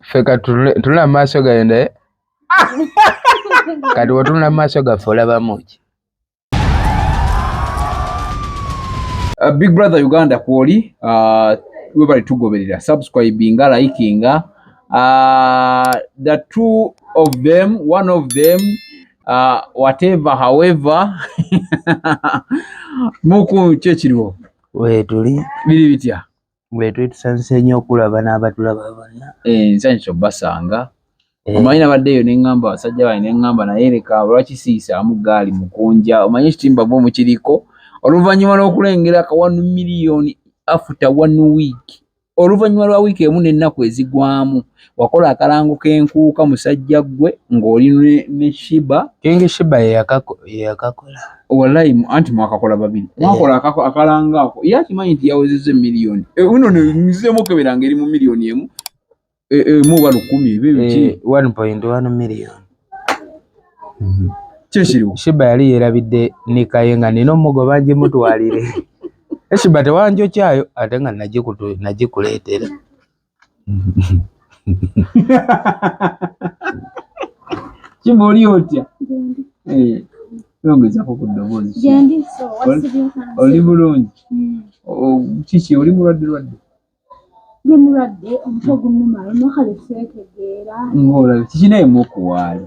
ffe katunula mu maaso gayo naye kati wetunula mu maaso gaffe olabamu ki Uh, big brother uganda kwoli uh, webali tugoberera subscribinga likinga uh, the two of them one of them uh, whatever however muku kyekiriwo wetuli biri bitya Bwetuli tusanyuse nnyo okulaba n'abatulaba bonna. Eh, nsanyuse obbasanga. Eh. Omanyi nabadde eyo ne ŋŋamba abasajja bange ne ŋŋamba naye leka lwaki siyisaamu gaali mukunja omanyi ekitimba gwe mukiriko oluvannyuma lw'okulengera ka one million after one week oluvannyuma lwa wiiki emu n'ennaku ezigwamu wakola akalango k'enkuuka musajja ggwe ng'oli ne shiba kingi shiba yeyakakola walayi anti mwakakola babiri eh. mwakola akalango ako ye akimanyi nti yawezeza emiliyoni eh, uno nzizemu okebera nga eri mu miliyoni emu eh, emu oba lukumi ebyo biki mhm. kyekiriwo shiba yali yerabidde nikaye nga nina omugoba ngimutwalire eshiba tewanjokyayo ate nga nagikuleetera kiba oli otya eh, yongezako ku ddoboozi oli bulungi hmm. kiki oli mulwadde lwadde ngaolabye kikinaye mukuwaali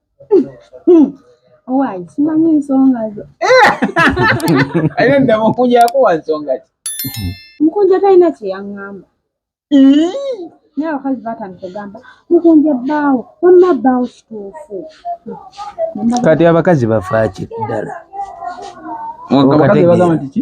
Owaaye simanyi nsonga zo. Ayo nda mukunja yakuwa nsonga ki? Mukunja talina kye yaŋŋamba. Naye abakazi baatandika ogamba mukunja bbaawo wamma bbaawo kituufu. Kati abakazi bafaaki ddala? Abakazi bagamba nti ki?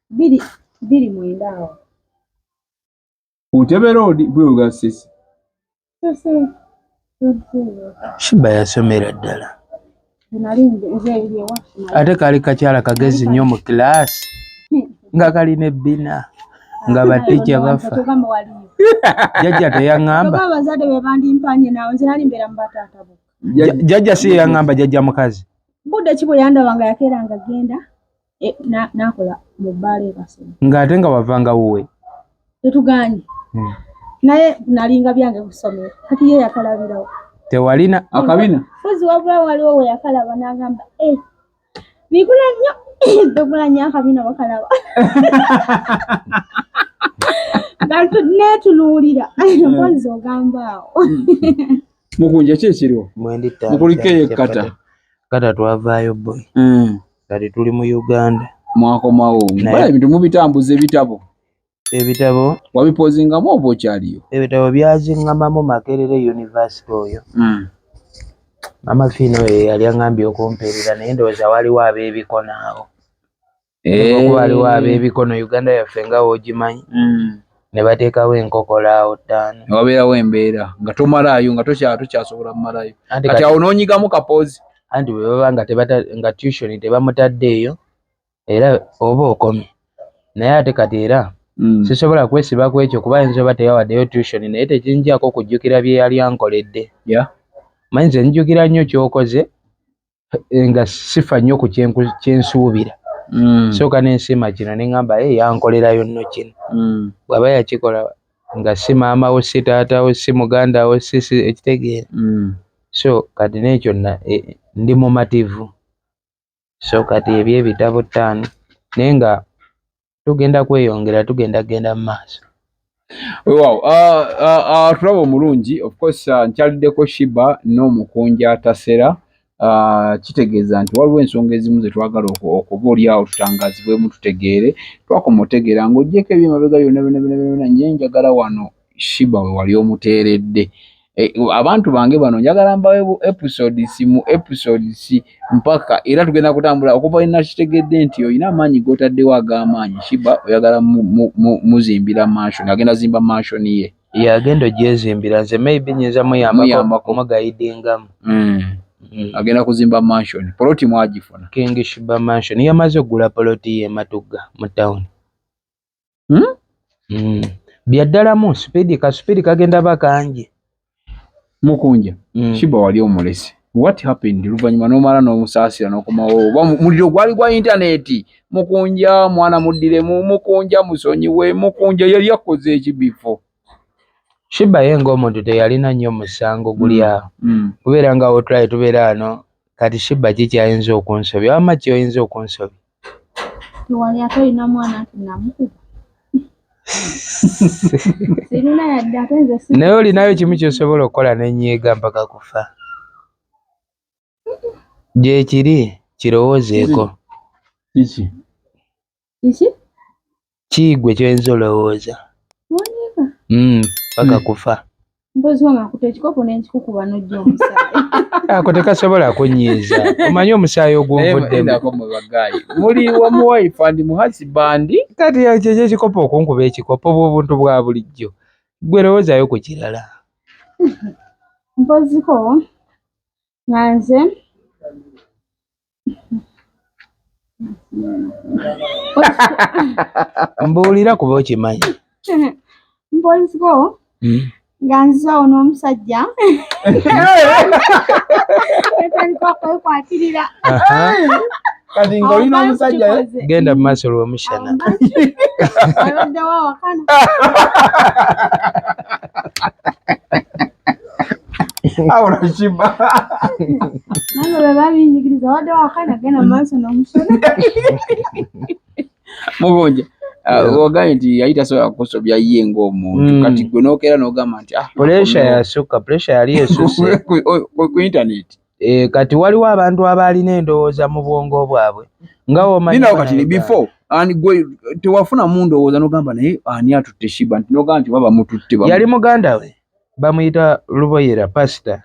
biri biri mwenda awo utebe road bwewuga sisi sisi shiba yasomera ddala ate kali kakyala kagezi nnyo mu kilaasi nga kalina ebbina nga batija bafa jajja teyaŋamba jajja si yeyaŋamba jajja mukazi budde ki bwe yandaba nga yakeera nga genda Eh, nakola mu bbaala ebasoma ng'ate nga wavanga wuwe tetuganye hmm. naye nalinga byange kusomero kati ye yakalabirawo tewalina akabina fuzi wabula waliwo we yakalaba n'agamba eh, bigula nnyo begula nnyo akabina bakalaba netunuulira hmm. mpozi ogamba awo hmm. mukunja ki ekiriwo mukulikeyo kata kata twavaayo boy kati tuli mu uganda mwakomawo bala ebintu mubitambuza ebitabo ebitabo wabipozingamu oba okyaliyo ebitabo byazingamamu makerere univesity oyo mm. mama fiina oyo yeyali angambye okumpeerera naye ndowooza waliwo abebikono awo eh. waliwo abebikono uganda yaffe nga wogimanyi mm. ne bateekawo enkokola awo ttaano ne wabeerawo embeera nga tomalaayo nga tokyasobola kumalayo kati awo n'onyigamu kapoozi anti bwe baba nga tebata nga tution tebamutadde eyo era oba okomye naye ate kati era mm. sisobola kwesiba ku ekyo kuba yinza oba teyawaddeyo tution naye tekinjako kujjukira bye yali ankoledde yeah. manyi nze njjukira nnyo kyokoze eh, nga sifa nnyo ku kyensuubira mm. sooka nensiima kino ne ŋamba e eh, yankolerayo nno kino mm. bw'aba yakikola nga si maama wo si taata wo si muganda wo si si ekitegeera mm. so kati n'ekyo eh, ndi mumativu so kati ebyo ebitabo ttaano naye nga tugenda kweyongera tugenda kugenda mu maaso wewawo ah, ah, ah, tulaba omulungi ofcourse nkyaliddeko shiba n'omukunja tasera kitegeeza nti waliwo ensonga ezimu zetwagala okuba olyawo tutangazibwemu tutegeere twakoma otegeera ngaogyeko ebyemabega byona byona byona byona nyenjagala wano shiba wewali omuteeredde eh, abantu bange bano njagala mbawe bu episodes mu episodes mpaka era tugenda kutambula okuva ina kitegedde nti olina amaanyi gotaddewo ag'amaanyi shiba oyagala muzimbira mansion agenda zimba mansion ye yagenda ogyezimbira nze maybe nyinza muyambako mugayidingamu mm. Mm. agenda kuzimba mansion poloti mwagifuna king shiba mansion yamaze okugula poloti ye matugga mu town hmm? mm. byaddalamu supidi ka supidi kagenda bakanje mukunja mm. shiba wali omulesi what happened luvannyuma nomala nomusaasira nokomawo oba muliro gwali gwa intaneti mukunja mwana muddiremu mukunja musonyiwe mukunja yali akoze ekibifo shiba ye ngaomuntu teyalina nnyo musango guli mm. awo mm. kubeera nga otulaye tubeera ano kati shiba kikyayinza okunsobya wama kyoyinza okunsobya tewali ate olina mwana nti namukuba sirina yadde ate nze naye olinayo kimu kyosobola okukola nenyiiga mpaka kufa gyekiri kirowoozeeko kiki kiki Ki gwe kyoyinza olowooza hmm, paka hmm. kufa mpozi wange akuta ekikopo nenkikukuba nojja omusaayi ako tekasobola kunyiiza omanyi omusaayi ogwonvuddemuli wamuwaifu andi muhasi bandi kati kyekyo ekikopo okunkuba ekikopo bwobuntu bwa bulijjo gwe lowoozayo ku kirala mpoziko nga nze mbuulira kuba okimanyi mpolisiko hmm? nga nze ono omusajja etandika okwekwatirira kati nga olina omusajja genda mu maaso lwomushana abaddewo awakana au unashiba nalo baba bingi kiliza wada wakana gena maso na mushona mugonja ogambye nti yali tasobola kukusobya ye ng'omuntu mm. kati gwe n'okeera n'ogamba nti ah, puresha yasukka puresha yali esuse ku intaneti Eh, kati waliwo abantu abaalina endowooza mu bwongo bwabwe nga womaninawo kati ni before ani gwe tewafuna mu ndowooza nogamba naye ani atutte shiba nti nogamba nti oba bamututte yali muganda we bamuyita luboyera pasita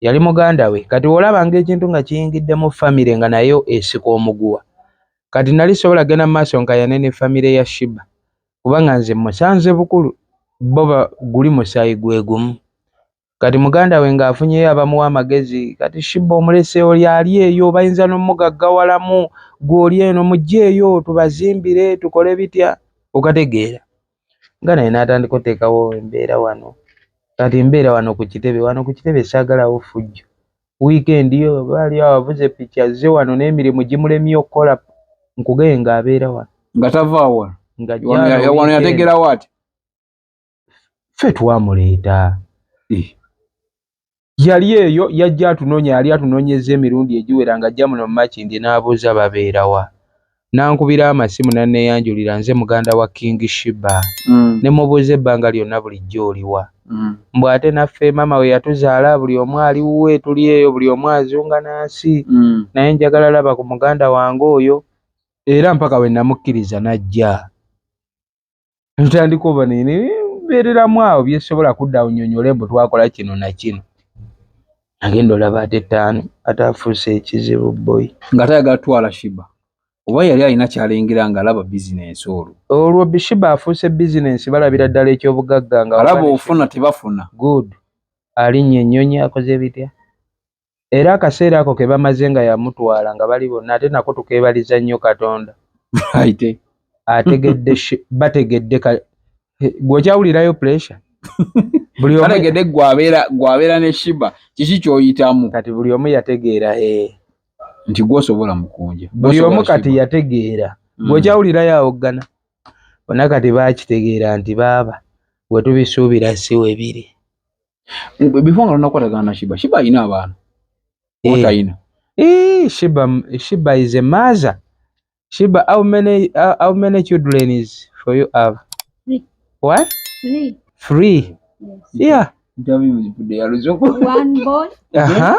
yali muganda we kati wolaba ngaekintu nga kiyingidde mu famire nga nayo esika omuguwa kati nali sobola genda mu maaso nkayane ne famire ya shiba kubanga nze musanze bukulu bo guli musaayi gwegumu Kati muganda we ng'afunyeyo abamuwa amagezi. Kati Shiba omulese oli ali eyo, bayinza n'omugaggawalamu, gwe oli eno, mujjeeyo tubazimbire, tukole bitya, okategeera. Nga naye n'atandika oteekawo embeera wano. Kati mbeera wano ku kitebe, wano ku kitebe saagalawo ffujjo. Wiikendi yo baali awavuze piki azze wano n'emirimu gimulemye okukola, nkugeye ng'abeera wano. Nga tava wano? Nga wano yategeerawo ati? ffe twamuleeta eh. yali eyo yajja atunonya yali atunonyeza emirundi egiwera nga ajja muno mumakindi n'abuuza babeerawa nankubira amasimu naneyanjulira nze muganda wa king shiba mm. ne mubuuza ebbanga lyonna bulijjo oliwa mm. mbu ate naffe maama we yatuzaala buli omu ali wuwe tuli eyo buli omu azunga na nsi mm. naye njagala laba ku muganda wange oyo era mpaka we namukkiriza najja tutandika oba nebeereramu awo byesobola kudda awo nyonyole mbu twakola kino nakino agenda olaba ate ttaano ate afuuse ekizibu boyi nga tayagala twala shiba oba yali alina kyalengera nga alaba bizinensi olwo olwo bishiba afuuse bizinensi balabira ddala ekyobugagga nga alaba ofuna tebafuna good alinnya ennyonyi akoze bitya era akaseera ako ke bamaze nga yamutwala nga bali bonna ate nako tukeebaliza nnyo katonda aite ategedde bategedde gweokyawulirayo pressure buliategedde gwabeera ne shiba kiki kyoyitamu kati buli omu yategeera e nti gwosobola mukunja buli omu kati yategeera mm. gweokyawulirayo awoggana bona kati bakitegeera nti baaba wetubisuubira siwebiri before nga tonakwatagana na shiba shiba alina abaana eh. otalina eh, shiba shiba is a mother shiba how many uh, how many children is for you have three. what three three yes. yeah interview with the one boy uh -huh.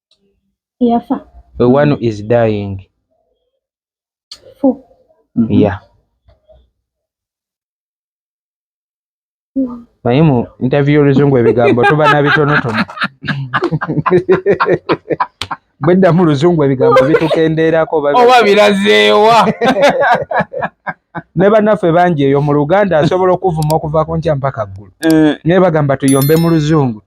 eyafa the one is dying fu ya naye mu interview oluzungu ebigambo tuba na bitonotono bwedda mu luzungu ebigambo bitukendeerako oba birazeewa ne bannaffe bangi eyo mu luganda asobola okuvuma okuva ku nkya mpaka ggulu eh. naye bagamba tuyombe mu luzungu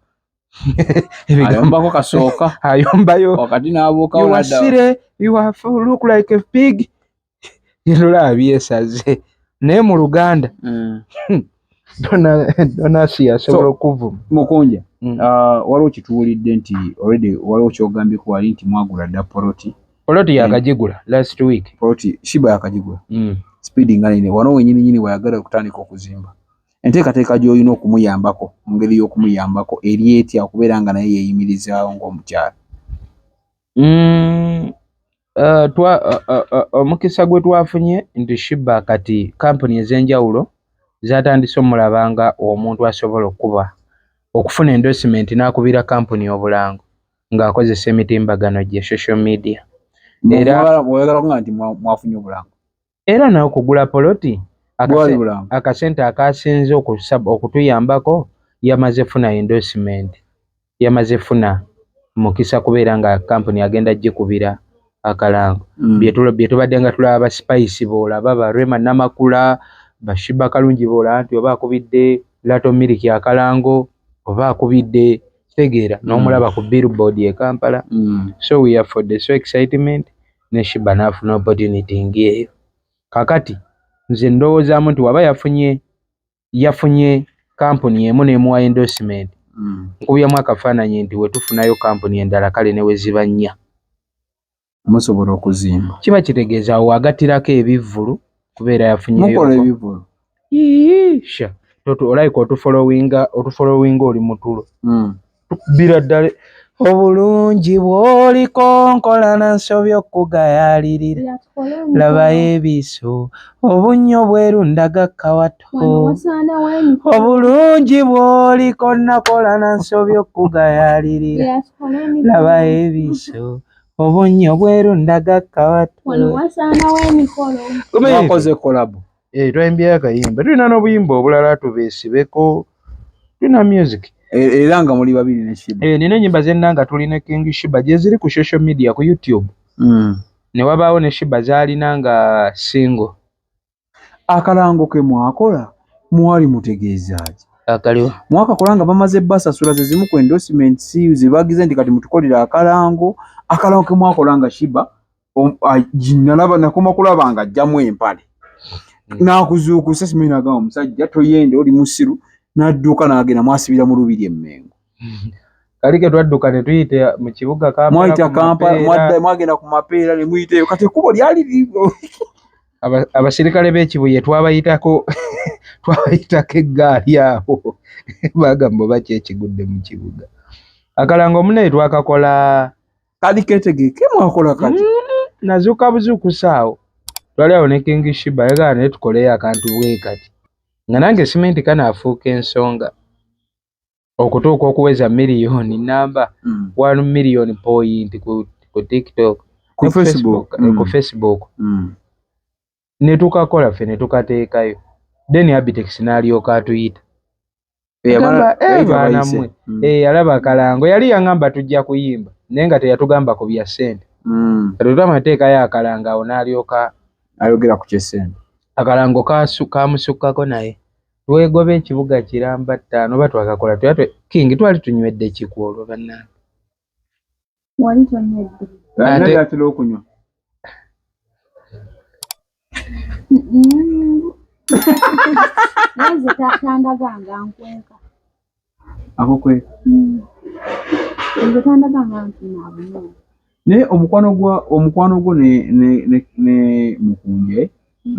ayombako kasooka ayombayo wakati nabuukawo wasire you have look like a pig ndola abyesaze naye mu luganda mm. donasi yasobola okuvuma mukunja mm. uh, waliwo kituwulidde nti already waliwo kyogambyeko wali nti mwagula dda poloti poloti yakagigula last week poloti shiba yakagigula mm. speedi nga nene wano wenyini nyini wayagala okutandika okuzimba Enteekateeka gy'olina okumuyambako mu ngeri y'okumuyambako eri etya okubeera nga naye yeeyimirizaawo ng'omukyala? Mm, uh, twa, uh, uh, uh, omukisa gwe twafunye nti shiba kati kampuni ez'enjawulo zatandise omulaba nga omuntu asobola okukuba okufuna endorsement n'akubira kampuni obulango ng'akozesa emitimbagano gye social media era oyagala kuga nti mwafunye obulango Era n'okugula poloti akasente akaasinze okutuyambako yamaze funa endorsement, yamaze funa mukisa kubeera nga kkampuni agenda gikubira akalango. Mm. Bye tubadde nga tulaba ba Spice b'olaba, ba Rema Namakula, ba Shiba Kalungi b'olaba nti oba akubidde Lato Miliki akalango oba akubidde kitegeera mm. n'omulaba ku billboard e Kampala. Mm. So we are for the so excitement. ne Shiba n'afuna opportunity ng'eyo. Kaakati nze ndowoozaamu nti waba yafunye yafunye kampuni emu n'emuwa endorsement, mm. nkubyamu akafaananyi nti wetufunayo kampuni endala kale ne weziba nnya musobola okuzimba. Kiba kitegeeza awo wagattirako ebivvulu kubeera yafunyeyomukola ebivulu sha olayika otufolowinga otufolowinga oli mutulo hmm. tukubira ddala obulungi bwoliko nkola na nsobi okugayalirira labayo ebiso obunnyo bweru ndaga kawato obulungi bwoliko nakola na nsobi okugayalirira labayo ebiso Obunyo bweru ndaga kawatu. Wano wasaana wa emikolo. Kumi wakoze kolabo. Eh twaimbye akayimba. Tulina n'obuyimba obulala tubesibeko. Tulina music. E, era nga muli babiri ne Shiba. Eh nina nyimba zenna nga tuli ne King Shiba gyeziri ku social media ku YouTube. Mm. Ne wabaawo ne Shiba zalina nga single. akalango ke mwakola mwali mutegeezaaki akaliwo mwakakola nga bamaze basasula ze zimu ku endorsement si zibagize nti kati mutukolere akalango akalango ke mwakola nga shiba nalaba nakoma kulaba nga ajjamu empale hmm. nakuzuukusa simanyi nagamba omusajja toyende oli musiru nadduuka nagenda mwasibira mu lubiri emmengo kali ke twadduka ne tuyita mu kibuga kamwayita kampala mwadda mwagenda ku mapeera ne muyiteyo kati ekkubo lyali ligo abasirikale b'ekibuye twabayitako twabayitako eggaali awo bagamba oba ki ekigudde mu kibuga akalanga omunaye twakakola kali ketegeke mwakola kati mm-hmm. nazuuka buzuukusa awo twali awo ne kingi shiba yagala naye tukoleyo akantu bwe kati nga nange simenti kanaafuuka ensonga okutuuka okuweza miliyoni namba mm. one million point ku, ku tiktok ku facebook, mm. ku facebook. Mm. netukakola ffe netukateekayo then abitex n'alyoka atuyita agamba eh, baanamwe mm. eh, yalaba kalango yali yangamba tujja kuyimba naye nga teyatugamba ku bya sente mm. katuta amateeka yo akalango awo n'alyoka ayogera ku kyesente akalango kamusukkako naye Twegobe ekibuga kiramba ttaano oba twakakola tuya twe king twali tunywedde kiku olwo bannange wali tonywedde ate atera okunywa nze tandaganga nkwenka ako kwe naye omukwano gwa omukwano gwo ne ne ne ne mukunje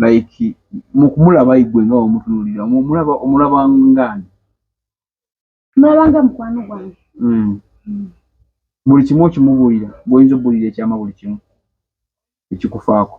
like mukumulaba igwe nga omutunulira omulaba omulaba ngani mulabanga mukwano gwange mm. mm. buli kimu okimubuulira bwoyinza obuulira ekyama buli kimu ekikufaako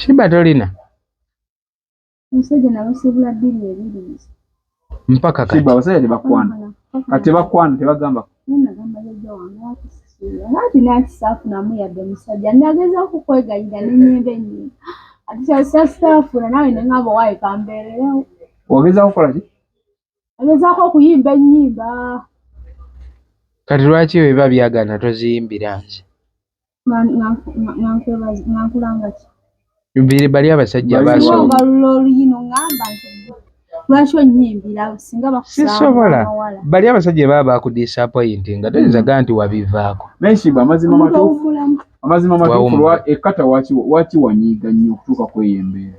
Shiba tolina omusajja nabasibula bbiri ebiri mpaka kati Shiba abasajja tebakwana kati tebakwana tebagamba nagamba jajja wange wakisisira ati nakisa afunamu yadde musajja nageza okukwegayira nenyemba ennyini ati kyasasitafuna nawe nengamba waye kambeererewo ogeza kukola ki agezaako okuyimba ennyimba kati lwaki weba byagana toziyimbira nze biri bali abasajja basobalula oluyino ngamba nti lwaki onyimbira singa bakusisobola bali abasajja baba bakudisapointi nga toyinza gaa nti wabivaako nenshiba amazima matuufu amazima matuufu ekkata waki wanyiiga nnyo okutuuka kweyo embeera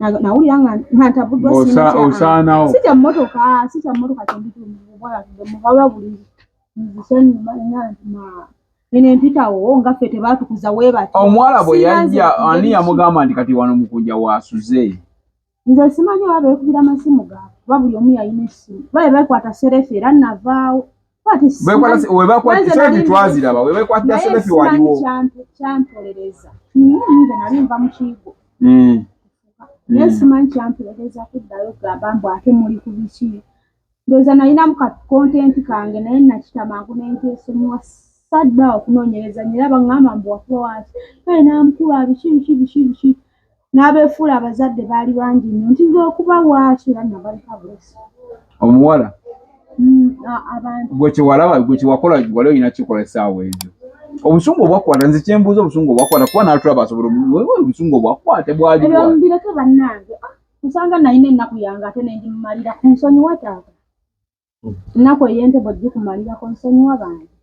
nawulira nga ntabuddwa osaanawo si kya mmotoka si kya mmotoka kyenditumuwalabula buli nzisanyuma ina nti eno empitawo nga ffe tebaatukuza weebati omuwala bwe yajja ani yamugamba nti kati wano mukunja waasuze nze simanyi oba beekubira amasimu gaabwe kuba buli omu yalina essimu babe beekwata serefu era navaawo webakwatitwaziraba webakwatira sebefi waliwo kyantolereza nze nali nva mukigo hmm. naye hmm. simanyi kyantolereza kuddayo gamba mbu ate muli ku biki ndoza nalinamu ka kontenti kange naye nakita mangu nentesomuwa sadda okunoonyereza nyera baŋŋamba mbu wakuba waki kale namukulu abiki biki biki biki N'abeefuula abazadde baali bangi nnyo nti nze okubawa ki era nabaleka bwesi. Omuwala mm, abantu gwe kyewalaba gwe kyewakola wali olina kikola essaawa ezo obusungu obwakwata nze kyembuuza obusungu obwakwata kuba natulaba asobola obusungu obwakwate bwalibireke bannange ah, nsanga nalina ennaku yange ate nendimumalira ku nsonyiwa taata ennaku ey'entebe ojjikumalirako nsonyiwa bantu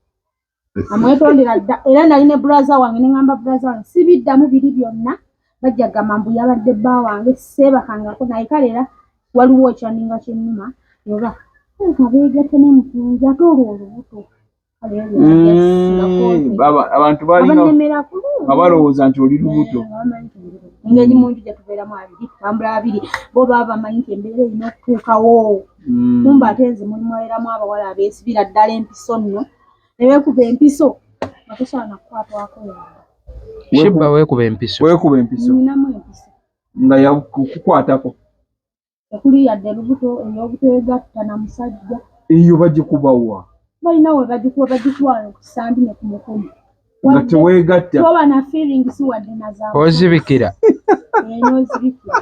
amwetondera dda era nali ne bulaza wange neŋamba bulaza wange sibiddamu biri byonna bajja gamba mbu yabadde bba wange seebakangako naye kale era waliwo ekyaninga kyenuma oba kabeegatte nemutunzi ate olwo olubuto Mm, abantu balina nga balowooza nti oli lubuto engeri muntu gyetubeeramu abiri tambula abiri bo baba bamanyi nti embeera erina okutuukawo mm. kumba ate nze mulimu aeramu abawala abeesibira ddala empiso nno neweekuba empiso nga tosaana kukwatwako yabba weekuba empiso ninamu empiso nga yakukwatako tekuli yadde lubuto ey'obuteegatta na musajja. Eyo bagikuba wa? Balina we bagikuba, bagikuba ku sandi ne ku mukono nga teweegatta toba na feeling si wadde na za ozibikira eyo ozibikira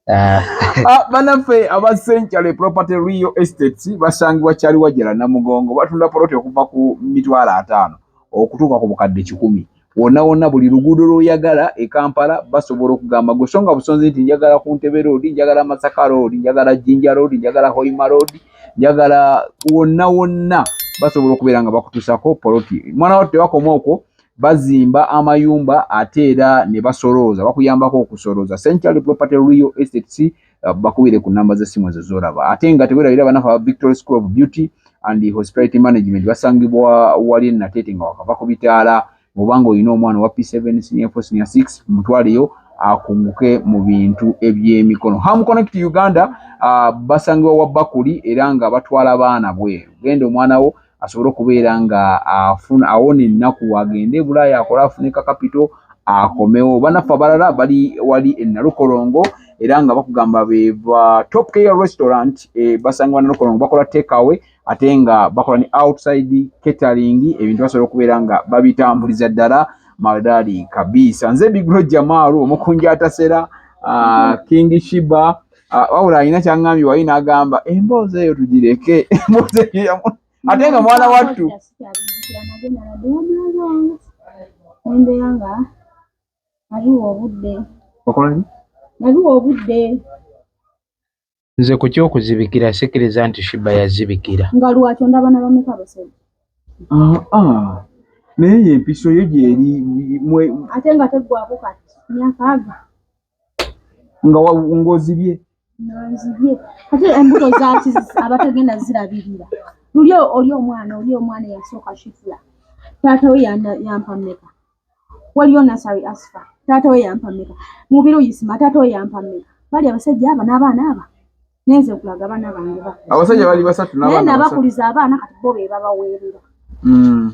Ah. Ah, banaffe aba century property real estates basangibwa kyali wajala namugongo batunda poloti okuva ku mitwalo ataano okutuuka ku bukadde kikumi wonna wonna buli luguudo lwoyagala e Kampala basobola okugamba gwe songa busonzi nti njagala ku Ntebe Road, njagala Masaka Road, njagala Jinja Road, njagala Hoima Road, njagala wonna wonna basobola okubeera nga bakutusako poloti. Mwana wattu tebakoma okwo bazimba amayumba ate era ne basolooza bakuyambako okusolooza. Century Property Real Estates. uh, bakubire ku namba z'essimu ezo z'olaba ate nga tewerabira banafe aba victory school of beauty and hospitality management basangibwa wali enateete nga wakava ku bitaala mubanga olina omwana owa p7 senior 4 senior 6 mutwaleyo akunguke mu bintu ebyemikono ham connect uganda uh, basangibwa wa bakuli era nga batwala baana bweru genda omwana wo asobole okubeera nga afuna awona ennaku agende ebulaaya akole afune kakapito akomewo banaffe abalala bali wali enalukolongo era nga bakugamba beva top care restaurant e, basanga banalukolongo bakola tekawe ate nga bakola ne outside catering ebintu basobola okubeera nga babitambuliza ddala madaali kabiisa nze bigro jamaalu omukunja atasera uh, king shiba Ah, wabula alina kyaŋŋambye wali n'agamba emboozi eyo tugireke emboozi eyo ate nga mwana wattu embeera nga nabiwa obudde okolaki nabiwa obudde nze ku kyokuzibikira sikiriza nti shiba yazibikira nga lwakyo ndaba na bameka basajja ah, ah. naye empiso yo gyeri ate nga teggwako kati myakaaga nga ng'ozibye ng'ozibye ate embuto zaaki abatagenda zirabirira luli oli omwana oli omwana eyasooka kifula taata we yampa mmeka waliyo nasari asifa taata we yampa mmeka mubiri oyisima taata we yampa mmeka bali abasajja aba n'abaana aba nenze kulaga abaana bange abasajja bali basatu naye nabakuliza abaana kati bo be babaweerera mm.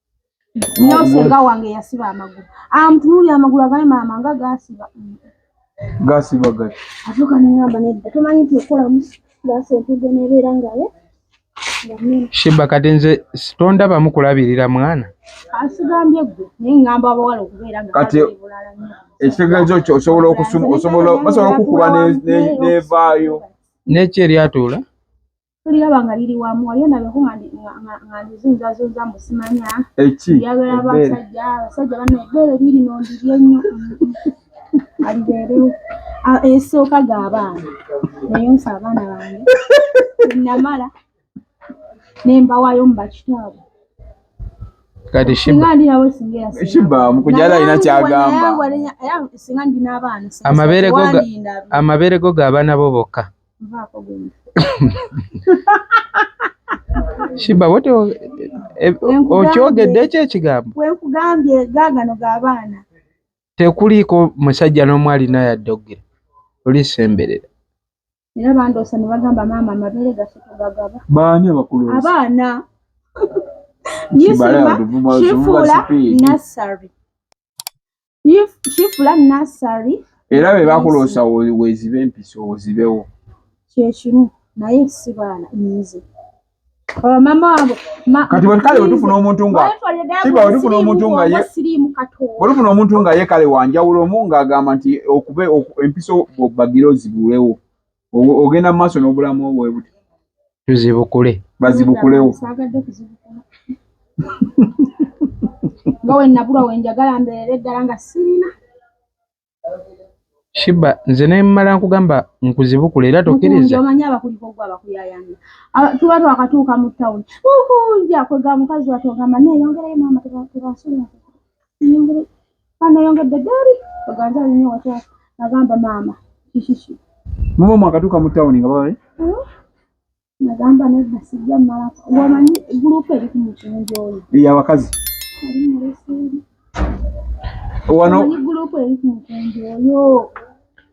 Nyosenga wange yasiba amagulu. Amtunuli ah, amagulu agaye mama nga gasiba. Gasiba gati. Atuka ni ngamba ne tumanyi tukola musi. Gase tuge ne bera ngaye. Shiba kati nze sitonda bamu kulabirira mwana. Asigambye gwe ni ngamba abawala okubeera nga kati ekitegezo kyo osobola okusuma osobola basobola kukuba ne ne vaayo. Neche lyatula. tuliraba nga liri wamu waliyo nabeko nga ndizunzazunza mbu simanya yabera basajja abasajja bana ebbeere liri nondiri ennyo alibeerewo esooka ga abaana neyonsa abaana bange namala nembawayo mu bakitaabwe kati shibamukujala alina kyagamba amabeere go g'abaana bo bokka Shiba wote eh, okyogedde ekyo ekigambo wenkugambye gagano gabaana tekuliiko musajja n'omu alina yadde okugera olisemberera era bandoosa ne bagamba maama amabeere gaffe tugagaba baani abakulu abaana nyisima kifuula nassary kifula nasari era bwe bakuloosa wezibe empisa ozibewo kyekimu naye si baana nze oh, mama wabwe kati bwekale wetufuna omuntu nga kiba wetufuna omuntu nga ye wetufuna omuntu nga ye kale wanjawulo omu nga agamba nti okube empiso bagire ozibulewo ogenda mu maaso n'obulamu obwe buti tuzibukule bazibukulewo nga wenabulwa wenjagala mbeera eddala nga sirina shiba nze nemala nkugamba nkuzibukule era tokiriza omanyi abakuliko gwe abakuyayanga tuba twakatuuka mu tawuni ukunja kwega mukazi watogamba neyongerayo maama tebasobola Banayongedde ggaali baganza alinye wata nagamba maama kishishi. Mama mwakatuuka mu tawuni nga babaye? Hmm? Nagamba nedda sijja malako. Wamanyi gulupu eri ku mukyunjo oyo. Iya bakazi. Ali mu leseri. Wano. Wamanyi gulupu eri ku mukyunjo oyo.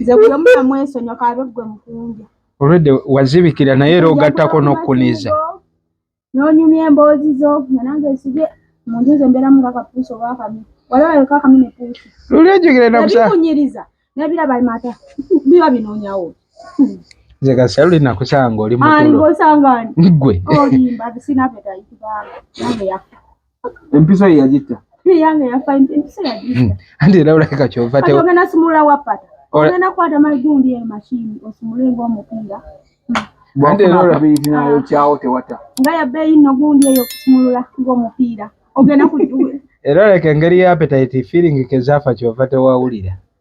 nze gwe muna mwesonyo kabe gwe mukunja olwedde wazibikira naye era ogattako n'okukuniza n'onyumya emboozi zo nga nange nsibye mu nju nze mbeeramu nga kapuusi oba akami wali waleka akami ne puusi luli ojjukire nakusakunyiriza nebiraba mata biba binoonyawo nze kasita luli nakusanga oli mukulu osanga gwe olimba sinabetaitibanga nange yafa Empiso ye yagitta. Ye yange yafa empiso yagitta. Hmm. Andi era olabika kyova tewa. Kati ogenda simula wapata. Ogenda kwata magundi eyo mashini osimule ng'omupiira. Hmm. Andi era olabika nayo kyawo tewata. Nga ya bbeeyi nno gundi eyo okusimulula ng'omupiira. Ogenda kujjula. Era oleka engeri ya appetite feeling ke zaafa kyova tewawulira.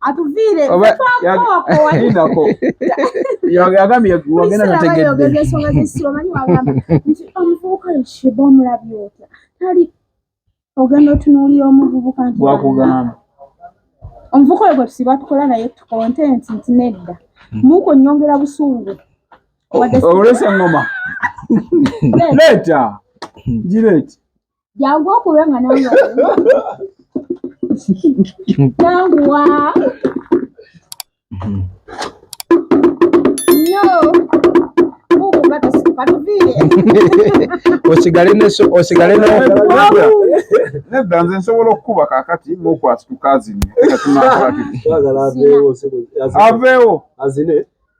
atuviire twakoowaako yagambye wagenda nategedde ensonga z'essira omanyi wagamba nti omuvubuka yeshiba omulabye otya tali ogenda otunuulira omuvubuka nti wakugamba omuvubuka oyo gwe tusiba tukola naye tukontenti nti nedda muuko nyongera busungu olwesa engoma leeta gireeti jangu okube nga nange janguwa osigale osigale nedda nze nsobola okukuba kakati nokwasituka azini avewo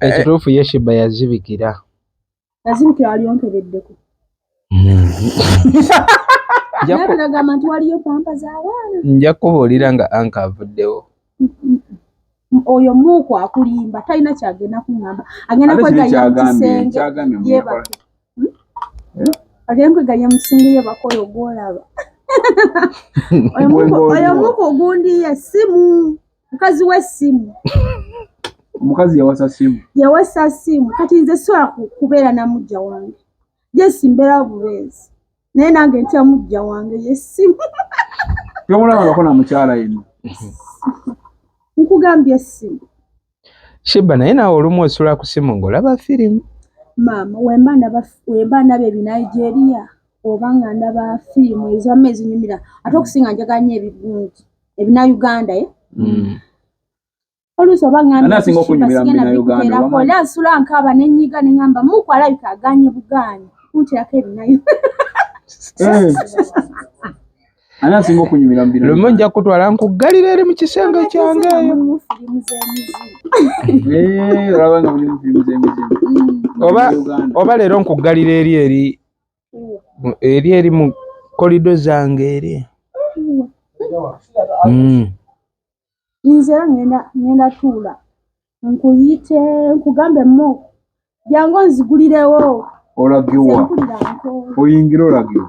Ekituufu ye Shiba yazibikira. Yazibikira wali onkebeddeko. Nagamba nti waliyo pampa z'abaana. Nja kubuulira nga anka avuddewo. Oyo muuku akulimba talina kyagenda kungamba agenda kwegaya mu kisenge yebake hmm? eh? agenda kwegaya mu kisenge yebake oyo gwolaba oyo muuku ogundiye simu mukazi we simu omukazi yawasa simu yawasa simu kati nze sola kubeera na mujja wange jesi mbeera bubeezi naye nange ntya mujja wange yesimu tomulabangako na mukyala ino nkugambye simu shiba naye nawe olumu osula ku simu ngaolaba firimu maama wemba ndaba ebinigeria oba nga ndaba firimu ezamu ezinyumira ate okusinga njaganya ebirungi ebina uganda eh? mm. oluusi oba ngambaaola nsula nkaaba nenyiga nengamba muku alabika aganye buganye kuntirako ebinayo eh. ani asinga okunyumira mu bino lumu nja kutwala nkuggalira eri mu kisenge kyange eh, oba leero nkuggalira eri eri eri eri mu kolido zange eri hmm. nze ngenda ngenda tuula nkuyite nkugambe mo jangu nzigulirewo olagiwa oyingira olagiwa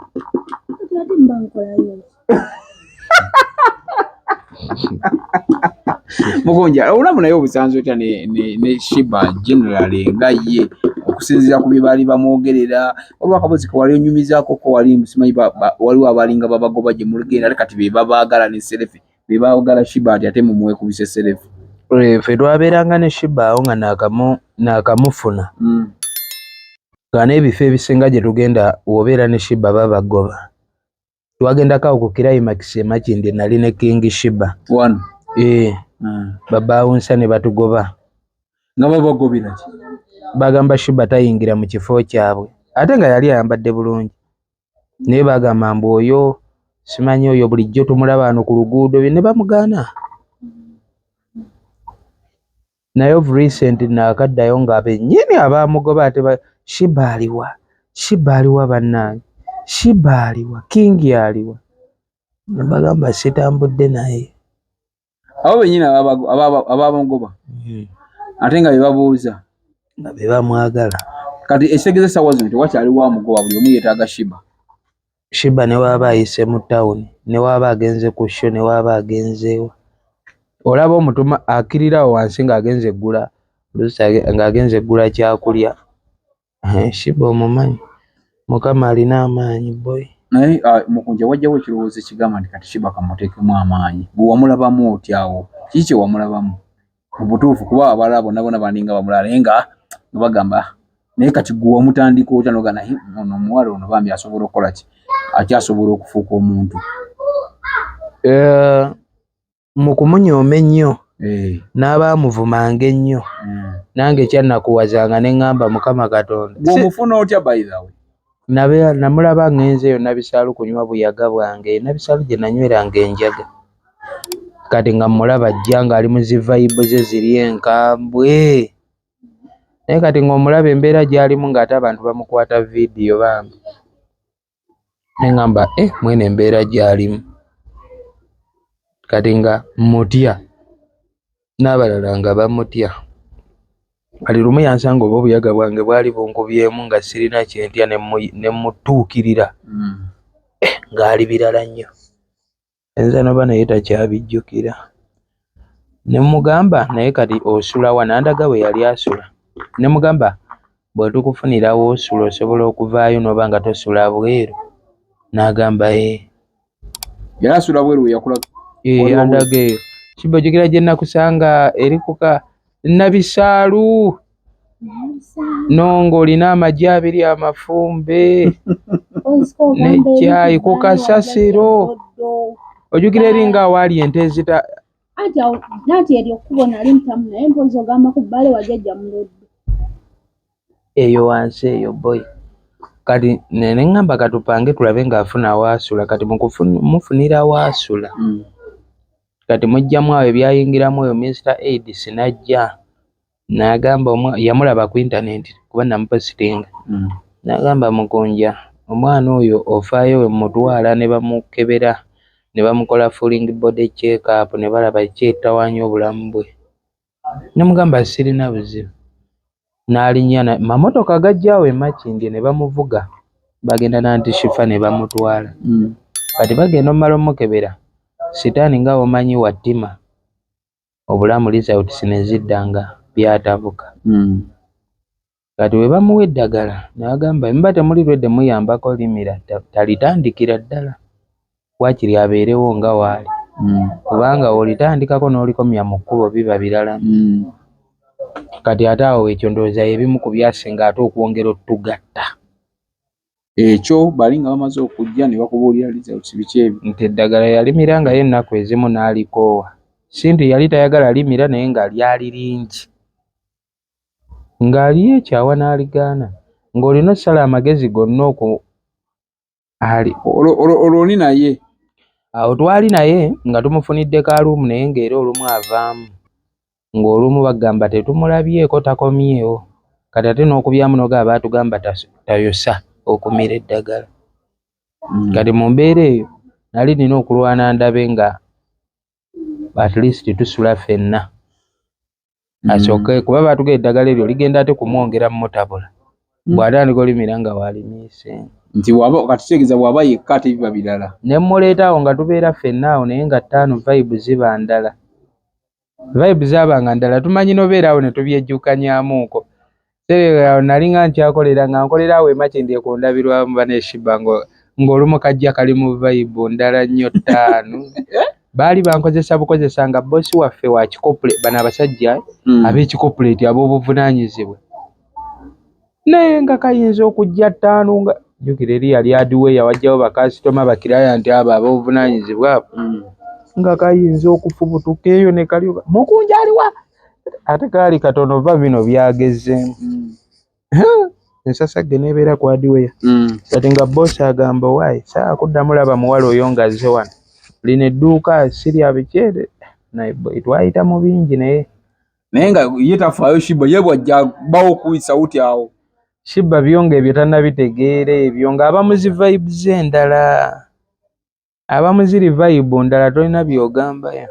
mugonja olamu naye obusanzi otya ne shiba generally nga ye okusinzira ku bye baali bamwogerera waliwo akabozi kewali onyumizaako ko wali musimanyi waliwo abalinga babagoba gye muligenda ate kati be babaagala ne serefe be baagala shiba ati ate mumwekubise serefe eh, fe lwabeeranga ne shiba awo nga nakamufuna hmm. nga n'ebifo ebisinga gye tugenda wobeera ne shiba babagoba twagendako awo ku kirayimakisi emakindi nali ne king shiba wano ee eh, hmm. babaawunsa ne batugoba nga babagobiraki bagamba shiba tayingira mu kifo kyabwe ate nga yali ayambadde bulungi naye bagamba mbu oyo simanyi oyo bulijjo tumulaba ano ku luguudo ne bamugaana Naye of recent naakaddayo nga bennyini abaamugoba ate ba Sheebah aliwa? Sheebah aliwa bannange? Sheebah aliwa? King aliwa? Ne mbagamba sitambudde naye. Abo bennyini abaamugoba hmm. ate nga be babuuza nga be bamwagala. Kati ekitegeeza essaawa zino tewakyaliwo amugoba, buli omu yeetaaga Sheebah. Sheebah ne bw'aba ayise mu tawuni ne bw'aba agenze ku sho ne bw'aba agenze wa, olaba omutuma akkirira awo wansi ng'agenze kugula oluusi ng'agenze kugula kyakulya. Sheebah omumanyi, Mukama alina amaanyi boy. Naye ah, Mukunja wajjawo ekirowoozo ekigamba nti kati Sheebah ka mmuteekemu amaanyi. Gwe wamulabamu otya awo? Kiki kye wamulabamu? mubutuufu kuba abala bona bona baninga bamulala naye nga bagamba naye kati gwe wamutandika otya noga naye ono omuwala ono bambi asobola okukola ki akyasobola okufuuka omuntu eh, mu kumunyooma ennyo eh. n'abaamuvumanga ennyo hmm. nange ekyannakuwazanga ne ŋŋamba mukama katonda gwomufuna otya bayihawe namulaba ngenzeeyo nabisaalu kunywa buyaga bwange nabisaalu gye nanyweranga enjaga kati nga mulaba ajja ng'ali mu zi vayibu ze ziri enkambwe naye kati ng'omulaba embeera gy'alimu ng'ate abantu bamukwata vidiyo bambi ne ŋamba e eh, mwene embeera gy'alimu kati nga mutya n'abalala nga bamutya kati lumu yansanga oba obuyaga bwange bwali bunkubyemu nga sirina kyentya ne mutuukirira mm. eh, ng'ali birala nnyo ayinza noba naye takyabijjukira ne mmugamba naye kati osula wa n'andaga we yali asula ne mmugamba bwe tukufunira w'osula osobola okuvaayo n'oba nga tosula bweru n'agamba ee yali asula bweru we yakula ee andaga eyo kibba ojjukira gye nakusanga eri kuka Nabisaalu nongo olina amagi abiri amafumbe nekyayi ku kasasiro ojukira eringa awaali ente ezita eyo wansi eyo boy kati neneŋamba katupange tulabe nga afuna waasula kati mufunira waasula mm. kati mujjamu awo ebyayingiramu oyo Mister Aids najja nagamba yamulaba ku internet kuba namupositinga mm. nagamba mukunja omwana oyo ofaayo wemutwala ne bamukebera ne bamukola falling body check up ne balaba ki etawaanya obulamu bwe ne mugamba sirina buzibu n'alinnya mamotoka gajja awo e Makindye ne bamuvuga bagenda na Anti Shifa ne bamutwala mm. kati bagenda omumala omukebera sitaani nga womanyi wattima obulamu results ne zidda nga byatabuka mm. kati webamuwa eddagala nagamba muba temuli redi muyambako limira talitandikira ddala wakiri abeerewo nga waali mm. kubanga olitandikako n'olikomya mu kkubo biba birala mm. kati ate awo ekyo ndowooza ebimu ku byasinga ate okwongera otugatta ekyo bali nga bamaze okujja ne bakubuulira results biki ebyo nti eddagala yalimira nga ye ennaku ezimu n'alikoowa si nti yali tayagala limira naye nga lyali lingi ng'aliyo ekyawa n'aligaana ng'olina osala amagezi gonna oku ali olwoli naye awo twali naye nga tumufunidde kaaluumu naye ng'era olumu avaamu ng'olumu bagamba tetumulabyeko takomyewo kati ate n'okubyamunoga aba atugamba tayosa okumira eddagala hmm. kati mu mbeera eyo nali nina okulwana ndabe nga at least tusula fenna mm. asooke mm. kuba baatuga eddagala eryo ligenda ate kumwongera mumutabula mm. bw'atandika olimira nga waalimiise nti waba kati kitegeeza bw'aba yekka ate biba birala ne mmuleeta awo nga tubeera ffenna awo naye nga ttaano vibe ziba ndala vibe zaabanga ndala tumanyi nobeera awo ne tubyejjukanyamuuko Sereka awo nali nga nkyakolera nga nkolera awo emakindi ekundabirwamu baneshiba ngo ng'olumu kajja kali mu vayibu ndala nnyo ttaanu baali bankozesa bukozesa nga bbosi waffe wa kikopule bano abasajja hmm. ab'ekikopuleeti ab'obuvunaanyizibwa naye nga kayinza okujja ttaanu nga jjukira eri yali adiweya wajjawo bakasitoma bakiraya nti abo ab'obuvunaanyizibwa abo hmm. nga kayinza okufubutuka eyo ne kalyoka mukunja aliwa ate kaali katono va bino byagezemu hmm. ensasagge nebeera kwadiweya hmm. kati nga bosi agamba owaye saa kuddamu laba muwala oyo nga azze wano lino edduuka sirya bikyere naye twayita mu bingi naye naye nga ye tafaayo shiba ye bwajja bawo kuyisa uti awo shiba byonga ebyo tanabitegeera ebyo nga abamuzi vibes endala abamu ziri vibe ndala tolina byogamba ya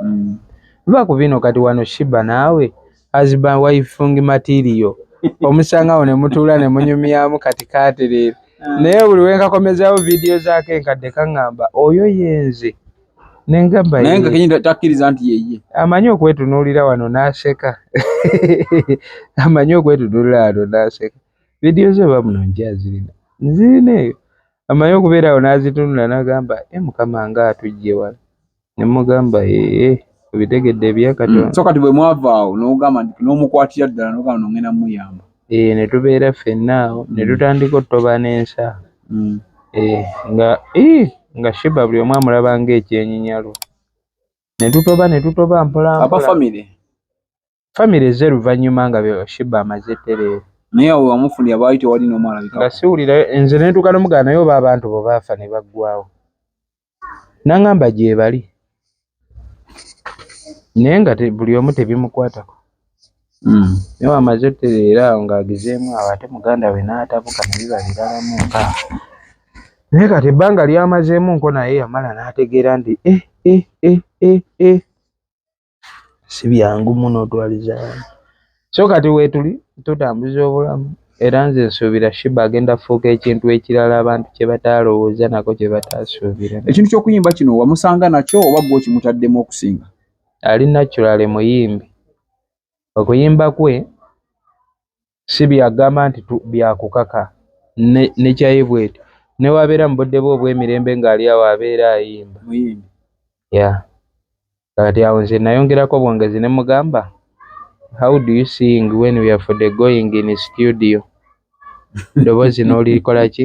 mm. va ku bino kati wano shiba naawe husband wifung material omusangawo ne mutuula ne munyumyamu kati katereera mm. naye buli wenkakomezawo vidiyo zaako enkadde kaŋŋamba oyo yenze nengabatakiriza nti yeye amanyi okwetunuulira wano n'aseka amanyi okwetunuulira wano n'aseka vidiyo ze bamuno nkyazirina nzirina eyo amanyi okubeera awo n'azitunula n'agamba e eh, mukama nga atujje wala ne mugamba ee eh, obitegedde ebya katonda mm, so kati bwe mwava awo n'ogamba nti n'omukwatira ddala n'ogamba nongenda muyamba ee eh, ne tubeera ffenna awo ne mm. tutandika otutoba n'ensa mm. ee nga ee nga shiba buli omu amulaba ng'ekyenyinyalo ne tutoba ne tutoba mpolampola Family ezze luvanyuma nga byo Shiba amaze tereere. Naye awo amufunira baali tewali n'omu alabika. Nga siwulira nze ne ntuuka nomugana naye oba abantu bo baafa ne baggwawo. Nangamba gyebali. Naye nga buli omu tebimukwatako. Mm. Naye amaze tereera awo ng'agezeemu awo ate muganda we n'atabuka ne biba biralamu nka. Naye kati ebbanga lyamazeemu nko naye yamala n'ategeera nti eh eh eh eh eh. si byangu muno otwaliza abaana so kati weetuli tutambuza obulamu era nze nsuubira shiba agenda fuuka ekintu ekirala abantu kye bataalowooza nako kye bataasuubira ekintu ky'okuyimba kino wamusanga nakyo oba gwe okimutaddemu okusinga ali naturale muyimbi okuyimba kwe si byagamba nti byakukaka nekyaye bweti newabeera mu budde bwe obw'emirembe ng'ali awo abeera ayimba ya kati awo nze nayongerako bwongezi ne mugamba how do you sing when we are for the going in studio eddoboozi n'olikola ki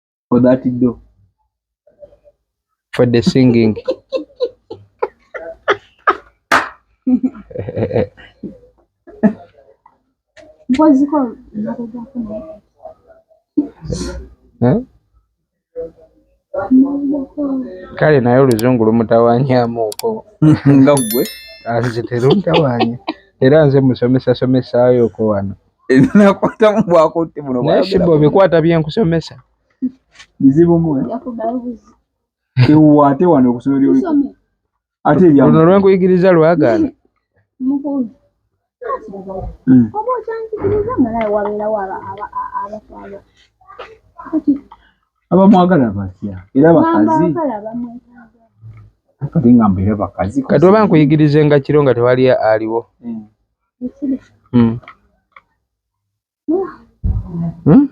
for that do for the singing kale naye oluzungu lumutawanyamuuko nga gwe anze teruntawanya era nze musomesa somesayoko wano nakwatamu bwakutte buno bwashiba obikwata byenkusomesa bizibu mwe ewate wano okusomera oli ate ebya luno lwenkuyigiriza lwagaana hmm. oba okyanjigiriza malayo wabeerawo abafaaba abamwagala batya era bakazi kati nga mbeera bakazi kati oba nkuyigirize nga kiro nga tewali aliwo hmm. Hmm. Hmm?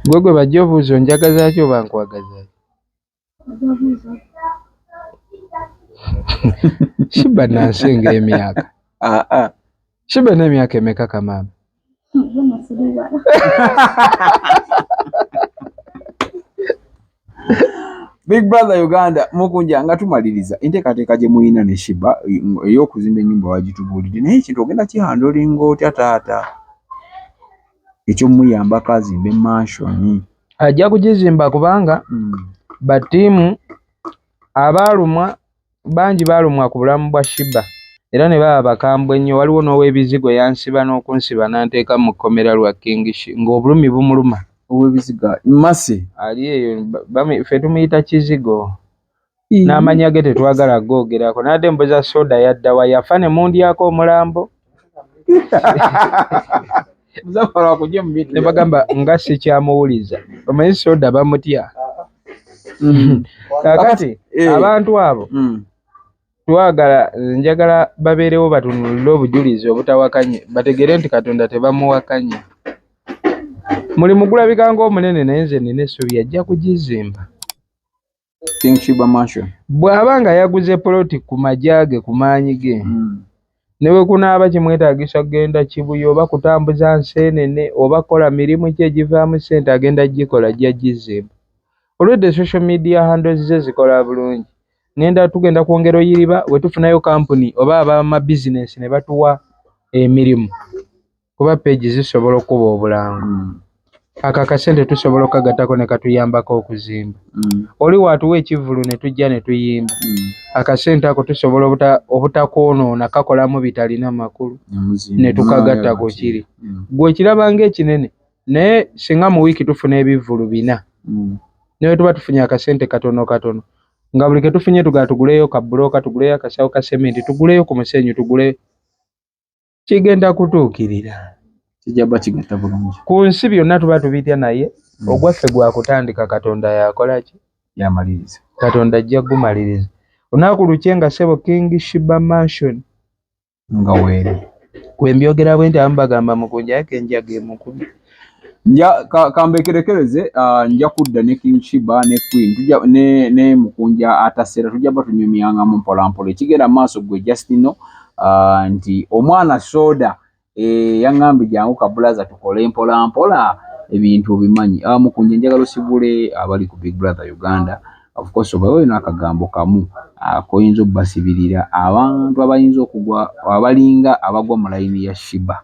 gwe gwe bajja obuuza onjagazaki oba nkwagazaki shiba nansi nga emyaka ah, ah. Shibe ne miaka emeka kama? Big Brother Uganda mukunja nga tumaliriza enteekateeka gye muyina ne Shiba ey'okuzimba ennyumba wagitubuulidde naye ekintu ogenda kihandolinga otya taata ekyomuyambako azimbe manshoni ajja kugizimba kubanga hmm. batiimu abaalumwa Bangi balumwa ku bulamu bwa Sheebah era ne baba bakambwe nnyo, waliwo n'oweebizigo eyansiba n'okunsiba n'anteeka mu kkomera lwa King Shee ng'obulumi bumuluma. Oweebizigo ali Mercy? Ali eyo, ffe tumuyita Kizigo. N'amannya ge tetwagala kugoogerako. Nabadde mbuza soda yadda wa? Yafa ne mundyako omulambo? ne bagamba nga sikyamuwuliza omanyi soda bamutya mm. kakati eh. abantu abo mm. twagala njagala babeerewo batunulire obujulizi obutawakanye bategere nti katonda tebamuwakanya mulimu gulabika ngaomunene naye nze nina essuubi ajja kugizimba bw'aba nga yaguze poloti ku magye ge ku maanyi ge hmm. ne bwe kunaaba kimwetaagisa kugenda kibuye oba kutambuza nseenene oba kukola mirimu ki egivaamu ssente agenda gikola ajja gizzeemu olwedde social media handles ze zikola bulungi ngenda tugenda kwongera oyiriba bwe tufunayo kampuni oba abamabizinensi ne batuwa emirimu kuba page zisobola okuba obulango mm. ako akasente tusobola okukagattako ne katuyambako okuzimba mm. oli waatuwa ekivvulu ne tujja ne tuyimba mm. akasente ako tusobola obutakwonoona kakolamu bitalina makulu ne tukagatta ku kiri mm. gwe okiraba ng'ekinene naye singa mu wiiki tufuna ebivvulu bina mm. naye tuba tufunye akasente katono katono nga buli ke tufunye tugala tuguleyo ka bbulooka tuguleyo akasawo ka sementi tuguleyo ku musenyu tugule kigenda kutuukirira ku nsi byonna tuba tubitya naye hmm. ogwaffe gwa kutandika katonda yakola ki yamaliriza katonda ajja kugumaliriza olunaku lukye nga sebo king shiba mansion nga weere kwe mbyogera bwe nti amu bagamba mukunja yake enjaga emukumi nja kambekerekereze ah, nja kudda ne king shiba ne queen tuja ne ne mukunja atasera tuja batunyumyanga mu mpola mpola ekigera maaso gwe just no ah, nti omwana soda e eh, yangambi jangu kabulaza tukole mpola mpola ebintu obimanyi ah, mukunja njagala osibule abali ku big brother uganda of course obawe nakagambo kamu akoyinza ah, obbasibirira abantu abayinza okugwa abalinga abagwa mu layini ya shiba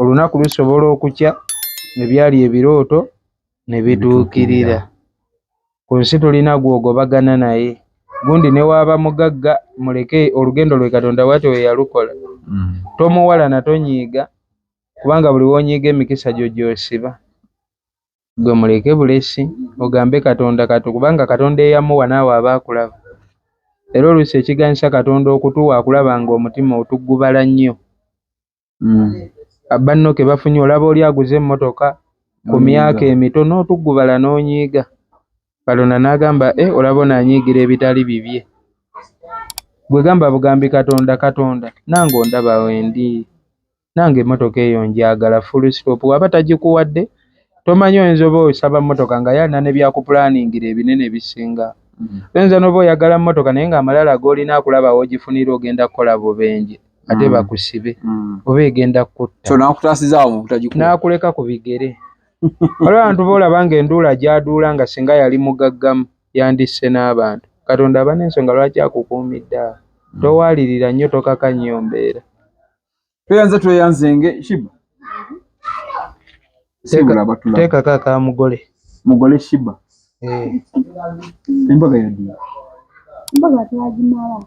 olunaku lusobola okukya ne byali ebirooto ne bituukirira. Ku nsi tulina gw'ogobagana naye. Gundi ne waaba mugagga muleke olugendo lwe Katonda bwatyo bwe yalukola. Mm. Tomuwalana tonyiiga kubanga buli w'onyiiga emikisa gyo gy'osiba. Gwe muleke bulesi ogambe Katonda katu kubanga Katonda eyamuwa naawe aba akulaba. Era oluusi ekiganyisa Katonda okutuwa akulaba ng'omutima otugubala nnyo. mm. banno ke bafunye olaba oli aguze emmotoka ku myaka emito n'otuggubala n'onyiiga kalona n'agamba e eh, olaba onaanyiigira ebitali bibye gwe gamba bugambi katonda katonda nange ondaba wendi nange emmotoka eyo njagala full stop waba tagikuwadde tomanyi oyinza oba osaba mmotoka nga yalina ne byakupulaningira ebinene ebisinga mm. oyinza n'oba oyagala mmotoka naye ng'amalala g'olina akulaba woogifunira ogenda kukola bubenje ate bakusibe oba egenda kukuttaonakuleka ku bigere waliwo abantu boolaba nga enduula gyaduula nga singa yali mugaggamu yandisse n'abantu katonda aba n'ensonga lwaki akukuumidde awo towaalirira nnyo tokaka nnyo mbeera tweyanze tweyanzenge shiba teekako aka mugole mugole shiba eh. embaga yaddi embaga twagimala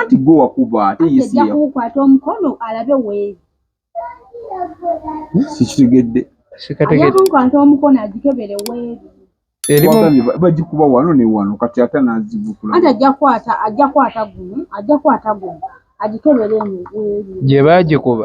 Anti gwe wakuba ate yesiyakukwata omukono alabe weeri sikitegedde sikategeddekukwata omukono agikebere weeri bagikuba wano ne wano kati ate nazivukula ati ajja kwata ajja kwata gumu ajja kwata gumu agikebere eno weeri gye bagikuba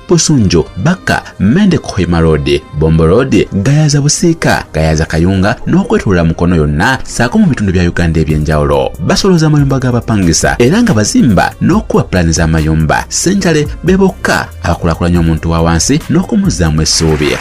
Busunju, Bakka, Mende Kohima Road, Bombo Road, Gayaza Busiika, Gayaza Kayunga n'okwetolera Mukono yonna saako mu bitundu bya Uganda eby'enjawulo. Basoloza amayumba g'abapangisa era nga bazimba n'okukuba pulaani z'amayumba. Ssenjale be bokka abakulakulanya omuntu wa wansi n'okumuzzaamu essuubi.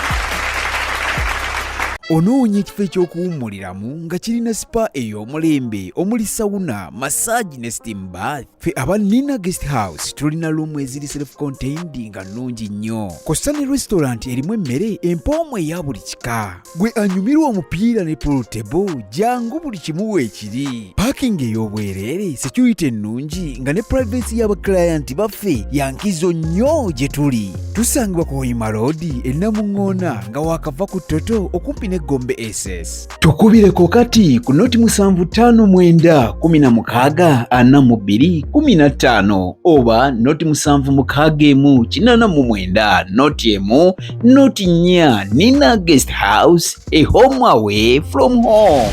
Onoonya ekifo eky'okuwummuliramu nga kirina sipa ey'omulembe omuli sawuna, masaagi ne steam bath? ffe aba nina guest house tulina luumu eziri self contained nga nnungi nnyo kosa ne restaurant erimu emmere empoomu eya buli kika gwe anyumirwa omupiira ne polutebo jangu buli kimu weekiri parking ey'obwereere security ennungi nga ne privacy y'abaklayant baffe yankizo nnyo gye tuli tusangibwa ku hoima road ennamuŋŋoona nga waakava ku toto okumpi ne gombe ss tukubireko kati ku noti musanvu ttaano mwenda kumi na mukaaga ana mu bbiri kumi na ttaano oba noti musanvu mukaaga emu kinana mu mwenda noti emu noti nnya nina guest house a home away from home